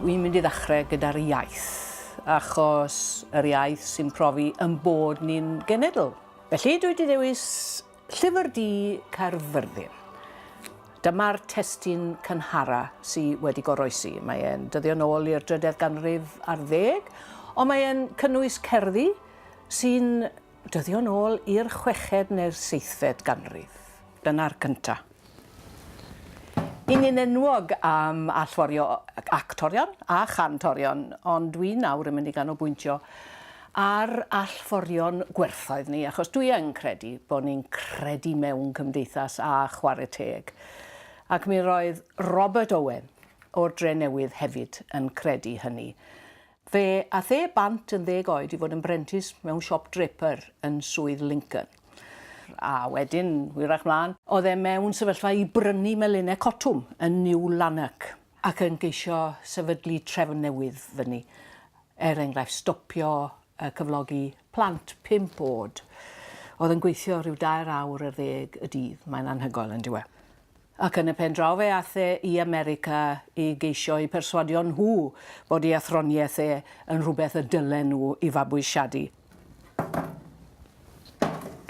Wi'n mynd i ddechrau gyda'r iaith, achos yr iaith sy'n profi yn bod ni'n genedl. Felly dwi wedi dewis Llyfr Di Caerfyrddin. Dyma'r testyn cynhara sydd wedi goroesi. Mae e'n dyddio nôl i'r drydedd ganrif ar ddeg, ond mae e'n cynnwys cerddi sy'n Dyddion ôl i'r chweched neu'r seithfed ganrif. Dyna'r cynta. Yn un enwog am allforio actorion a chantorion, ond dwi nawr yn mynd i ganolbwyntio ar allforion gwerthoedd ni, achos dwi yn credu bod ni'n credu mewn cymdeithas a chwarae teg. Ac mi roedd Robert Owen o'r Drenewydd hefyd yn credu hynny. Fe ath e bant yn ddeg oed i fod yn brentis mewn siop draper yn Swydd Lincoln. A wedyn, hwyrach mlaen, oedd e mewn sefyllfa i brynu melinau cotwm yn New Lanark ac yn geisio sefydlu trefn newydd fyny. Er enghraifft, stopio cyflogi plant pump oed oedd yn gweithio rhyw dair awr ar ddeg y dydd. Mae'n anhygoel, yn dyw e? ac yn y pen draw fe ath e i America i geisio eu perswadio nhw bod ei athroniaeth e yn rhywbeth y dylen nhw i fabwysiadu.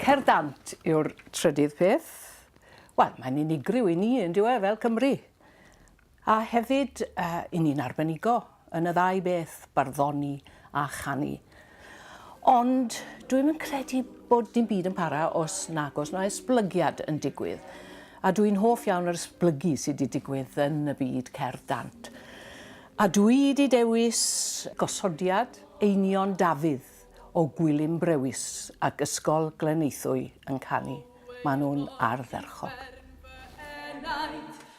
Cer dant yw'r trydydd peth. Wel, mae'n unigryw i ni, yn dyw e, fel Cymry. A hefyd, y ni'n arbenigo yn y ddau beth, barddoni a chanu. Ond dwi'm yn credu bod dim byd yn para os nag oes 'na esblygiad yn digwydd. A dwi'n hoff iawn o'r esblygu sy' 'di digwydd yn y byd cerdd dant. A dwi 'di dewis gosodiad Einion Dafydd o Gwilym Brewis ac Ysgol Gleneithwy yn canu. Ma' nhw'n ardderchog.